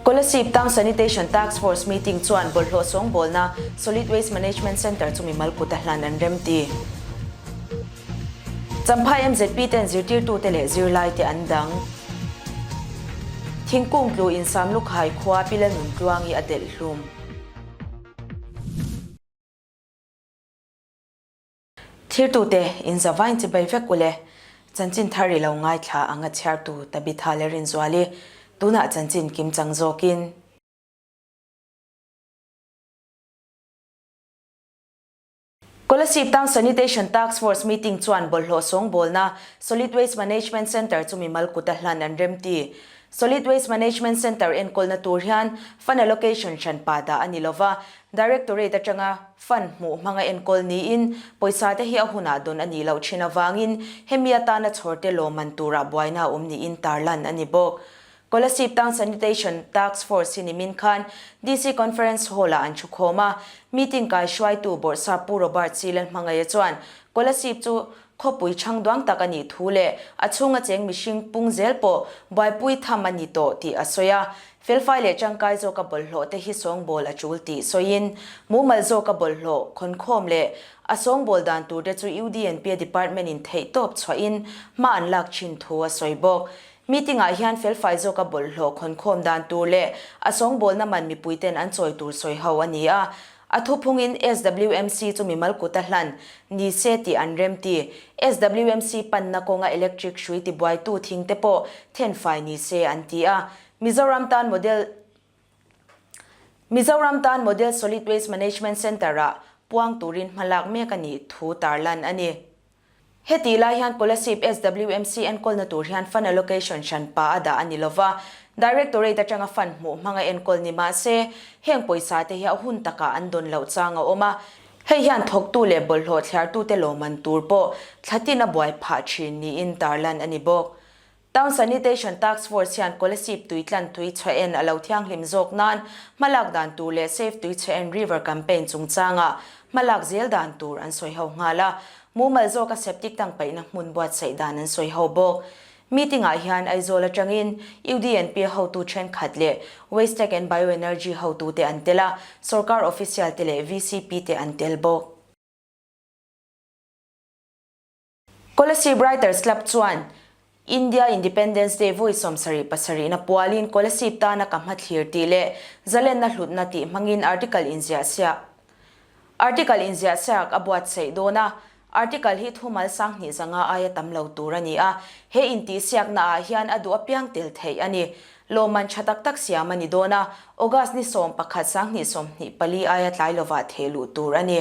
Kola Sip Tang Sanitation Task Force Meeting chuan bawlhhlawh sawngbawlna Solid Waste Management Centre chumi malkut a hlan an remti. Champhai MZP ten zirtirtu te leh zirlai te an dang. Thingkung tlu in Samlukhai khua Pila nun tluangi a delh hlum. Thirtu te in zavain chi bai vek ule. Chanchin thar ri lo ngaithla a ngachiartu Tabitha le Rinzuali tunah chanchin kim chang zawk in. Kola Siptang Sanitation Task Force Meeting chuan bawlhhlawh sawngbawlna Solid Waste Management Centre chumi Malkuta hlan an remti. Solid Waste Management Centre enkawlna tur hian Fund Allocation hran pa dah a ni lova, Directorate atanga Fund hmuh hmanga enkawl niin pawisa te hi a hunah dawn a nih loh thin avangin hemi atana chhawrte lawmman turah buaina awm niin tarlan a ni bawk. Policy Town Sanitation Task Force hi nimin khan DC Conference Hall ah an thu khawm a. Meeting kaihruaitu Bawrhsa Pu Robert Silen hmangaia chuan Kolasib chu khawpui chhangduang tak a nih thu leh a chhunga cheng mihring pung zel pawh buaipui tham a ni tawh tih a sawi a. Felfai leh tangkai zawk a bawlhhlawh te hi sawngbawl a tul tih sawiin mumal zawk a bawlhhlawh khawnkhawm leh a sawngbawl dan tur te chu UDNP-a department-in theihtawp chhuahin hma an lak thin thu a sawi bawk. Meeting ah hian felfai zawk a bawlhhlawh khawnkhawm dan tur leh a sawngbawlna man mipui ten an chawi tur sawi ho a ni a. A thu phung in SWMC chu mimal kut a hlan ni se tih an remti. SWMC panna kawnga electric hrui tibuai tu thing te pawh then fai ni se an ti a. Mizoram tan model Mizoram tan model solid waste management centre ah puang turin hmalak mek a nih thu tarlan a ni. Heti lai hian policy SWMC enkawlna tur hian fund allocation hran pa a dah a ni lova, Directorate atanga fund hmuh hmang a enkawl ni mah se, heng pawisa te hi a hun takah an dawn loh chang a awm a, hei hian thawktu leh bawlhhlawh thliartute lawmman tur pawh thla tin a buai phah thin niin tarlan a ni bawk. Town Sanitation Task Force hian Kolasib tui tlan tui chhe en a lo thianghlim zawk nan hma lak dan tur leh Save Tui Chhe En River campaign chungchanga hma lak zel dan tur an sawi ho nghal a, mumal zawka septic tank paihna hmun buatsaih dan an sawi ho bawk. Meeting ah hian Aizawl atangin UDNP a hotu thenkhat leh Waste Tech and Bioenergy hotu te an tel a, sorkar official te leh VCP te an tel bawk. Kolesi Writers Club chuan India Independence Day vui sawm sarih pasarihna pualin Kolesi tana ka hmathlir tih leh zalenna hlutna tih hmangin article inziahsiah Article inziahsiak a buatsaih dawn a, article hi thu Malsang hnihzanga aia tam lo tur a ni a, he intihsiakna ah hian a duh apiang tel theih a ni. Lawmman tha tak tak siam a ni dawn a, August ni sawm pakhat Sang hnih sawm hnih pali aia tlai lovah theh luh tur a ni.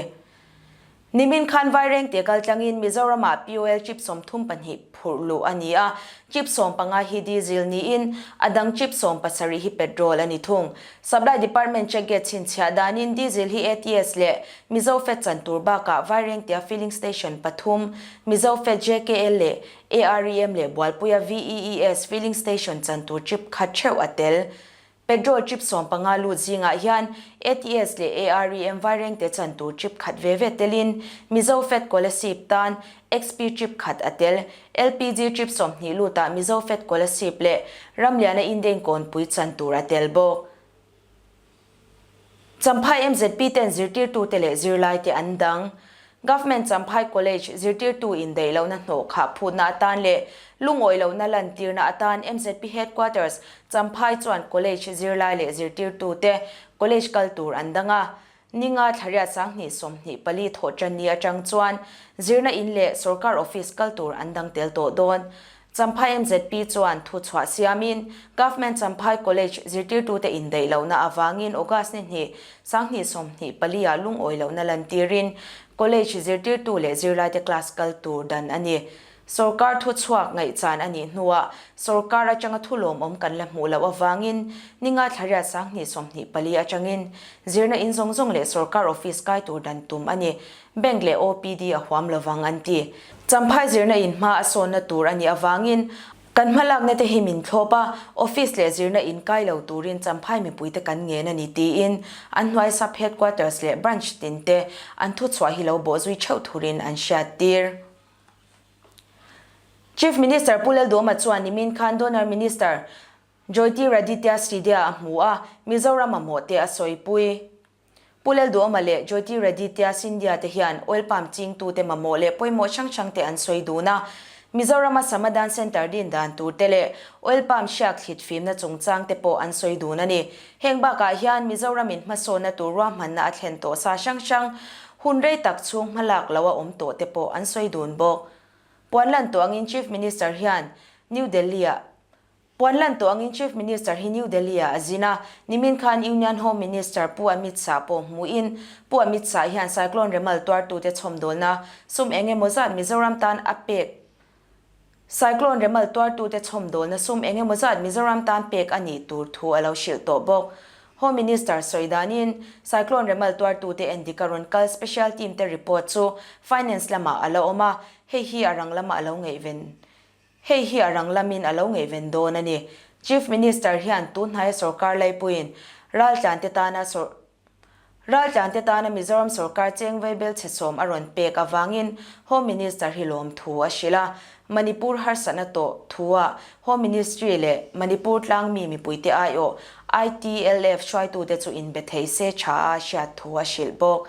Nimin khan Vaireng tih kal tlangin Mizoramah Pioel chip sawm thum pahnih phurh luh a ni a, chip sawm panga hi diesel niin, a dang chip sawm pasarih hi petrol a ni thung. Supply Department check gate chhinchhiah danin diesel hi ATS leh Mizo Fed chan tur bakah Vaireng tia filling station pathum, Mizo Fed JKL leh AREM leh Bualpuia VEES filling station chan tur chip khat theuh a tel. Petrol chip sawm panga lut zingah hian ATS leh AREM vai rengte chan tur chip khat ve ve telin Mizo Fed Colasip tan XP chip khat a tel. LPG chip sawmhnih lutah Mizo Fed Colasip leh ramliana indein kawnpui chan tur a tel bawk. Champhai MZP ten zirtirtute leh zirlaite an dang. Government Champhai College zirtirtu in daihlohna hnawh khah phutna atan leh lungawi lohna lantirna atan MZP Headquarters Champhai chuan College zirlai leh zirtirtute College kal tur an dang a. Ninga thlariat sanghnih sawmhnih pali thawh tanni atang chuan zirna in leh sorkar office kal tur an dang tel tawh dawn. Champhai MZP chuan thu chhuah siamin Government Champhai College zirtirtute indaih lohna avangin August ni hnih sanghnih sawmhnih palia lungawi lohna lantirin College zirtirtu leh zirlaite class kal tur dan a ni. Sorkar thu chhuak ngaih chan a nih hnuah sorkar atanga thu lawmawm kan la hmuh loh avangin ni ngaithlariat sanghnih sawmhnih pali atangin zirna in zawng zawng leh sorkar office kai tur dan tum a ni. Bank leh OPD a huam lo vang an ti. Champhai zirna in hma a sawnna tur a nih avangin kan hma lakna te hi min thlawp a, office leh zirna in kai lo turin Champhai mipui te kan ngen a ni tiin an hnuai sub headquarters leh branch tin te an thuchhuah hi lo bawh zui theuh thurin an hriat tir. Chief Minister Pu Lalduama chuan nimin khan Donor Minister Joytiraditya Sridia a hmu a, Mizoram a mawhte a sawipui. Pulel Duama leh Jyoti Reddy tia Scindia te hian oil palm chingtu te mamawh leh pawimawh hrang hrang te an sawi dun a. Mizorama Sama Dan Centre din dan tur te leh oil palm hriak thlit fimna chungchang te pawh an sawi dun a ni. Heng bakah hian Mizoramin hmasawna tur ruahmanna a thlen tawh sa hrang hrang, hun rei tak chhung hma lak lo a awm tawh te pawh an sawi dun bawk. Puan lan tuangin Chief Minister hian New Delhi-ah Puan lan tawh angin Chief Minister hi New Delhi-ah a zin a, nimin khan Union Home Minister Pu Amit Shah pawh hmuhin Pu Amit Shah hian cyclone remal tuartute chhawmdawlna sum eng emaw zat Mizoram tan a pek Cyclone remal tuartute chhawmdawlna sum eng emaw zat Mizoram tan pek a nih tur thu a lo hrilh tawh bawk. Home Minister sawi danin cyclone remal tuartute en dik a rawn kal special team te report chu Finance lamah a lo awm a, hei hi a rang lamah a lo ngaiven Hei hi a rang lamin a lo ngaihven dawn a ni. Chief Minister hian tun hnaia sorkar laipuiin Raltlante tana sor Raltlante tana Mizoram sorkar cheng veibel chhesawm a rawn pek avangin Home Minister hi lawm thu a hrilh a. Manipur harsatna tawh thua Home Ministry leh Manipur tlang mi mipuite aiawh I TLF hruaitute chu inbe thei se tha a hriat thu a hrilh bawk.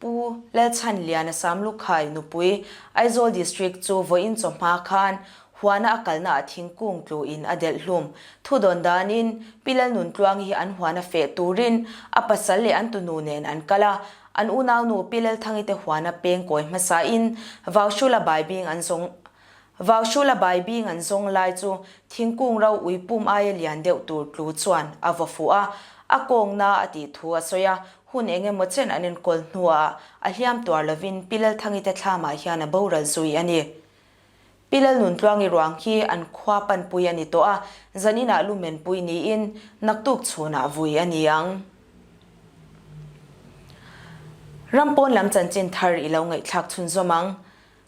Pu Lalchhanlian a Sam Lukhai nupui Aizawl District chu vawiin chaw hma khan huana a kalna ah thingkung tlu in a delh hlum. Thu dawn dan in Pi Lalnuntluang hi an huana feh tur in a pasal leh an tu nu nen an kal a, an unau nu Pi Lalthangi te huana peng kawi hmasa in Vaushula Baibing an zawng Vaushula Baibing an zawng lai chu thingkung ro ui pum aia lian deuh tur tlu chuan a vaw fuh a, a kawng na a tih thu a sawi a, hun eng emaw chen an enkawl hnuaah a hliam tuar lovin Pi Lalthangi te thlamah hian a boral zui a ni. Pi Lalnuntluangi ruang hi an khua panpui a ni tawh a, zaninah lu menpui niin naktuk chhunah vui a ni ang. Ram pawn lam chanchin thar i lo ngaihthlak chhunzawm ang.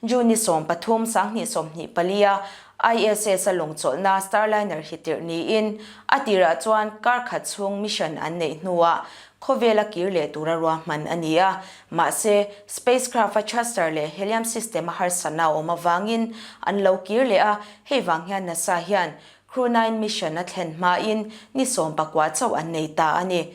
June-i sawm pathum, Sanghnih sawmhnih palia ISS-a lawngchawlhna Starliner hi tirh niin, a tirah chuan kar khat chhung mission an neih hnuah khawvela kir leh tura ruahman a ni a. Mahse, spacecraft-a thruster leh helium system-a harsatna awm avangin an lo kir leh a, hei vang hian NASA hian Crew Nine mission-a thlen hmain ni sawm pakua chauh an nei ta a ni.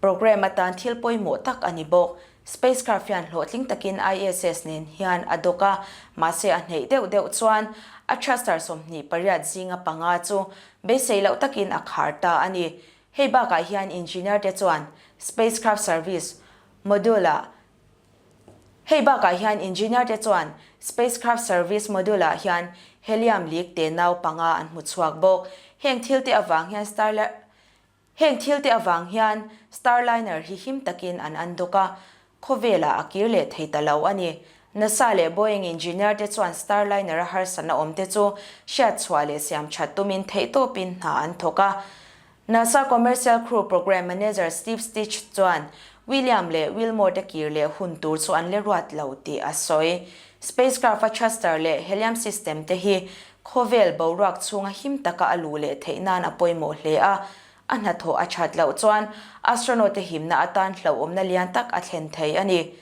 Programme atan thil pawimawh tak a ni bawk. Spacecraft hian hlawhtling takin ISS nen hian a dawk a, mahse a hneih deuh deuh chuan a thruster sawmhnih pariat zinga panga chu beisei loh takin a khar ta a ni. Hei bakah hian engineer te chuan Spacecraft Service Module ah Hei bakah hian engineer te chuan Spacecraft Service Module ah hian helium leak te nau panga an hmu chhuak bawk. Heng thil te avang hian Starlab Heng thil te avang hian Starliner hi him takin an an dawk a, khawvelah a kir leh thei ta lo a ni. Nasa leh Boeing engineer te chuan Starliner a harsatna awm te chu hriat chhuah leh siam that tumin theihtawpin hna an thawk a. Nasa Commercial Crew Program Manager Steve Stich chuan William leh Wilmore te kir leh hun tur chu an le ruat lo tih a sawi. Spacecraft-a thruster leh helium system te hi Khawvel boruak chhunga him taka a luh leh theih nan a pawimawh hle a, a hnathawh a that loh chuan astronaut-te himna atan hlauhawmna lian tak a thlen thei a ni.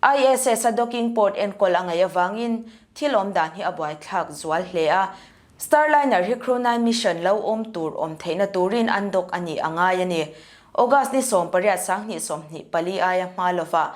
ISS-a docking port enkawl a ngaih avangin thil awm dan hi a buaithlak zual hle a, Starliner hi Crew nine mission lo awm tur awm theihna turin undock a nih a ngai a ni. August ni sawmpariat sang hnih sawmhnih pali aia hma lovah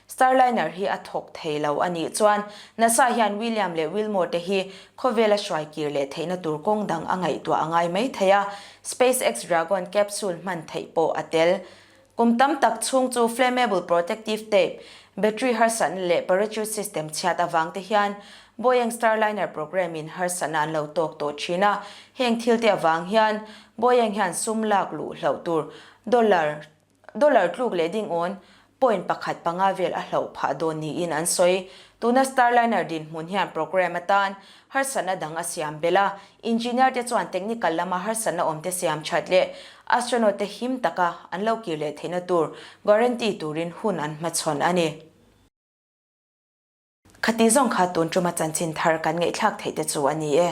Starliner hi a thawk thei lo a nih chuan nasa hian William leh Wilmore te hi khawvel a hruai kir leh theihna tur kawng dang a ngaihtuah a ngai mai thei a, SpaceX Dragon capsule hman theih pawh a tel. Kum tam tak chhung chu flammable protective tape, battery harsatna leh parachute system chhiat avang te hian Boeing Starliner program in harsatna an lo tawk tawh thin a, heng thil te avang hian Boeing hian sum lak luh hlauh tur dollar Dollar tluk leh ding awn point pakhat panga vel a hloh phah dawn niin an sawi. Tuna Starliner dinhmun hian program atan harsatna dang a siam belh a, engineer te chuan technical lama harsatna awmte siam that leh astronaut te him taka an lo kir leh theihna tur guarantee turin hun an hmachhawn a ni. Khati zawng kha tun tuma chanchin thar kan ngeihthlak theih te chu a ni e.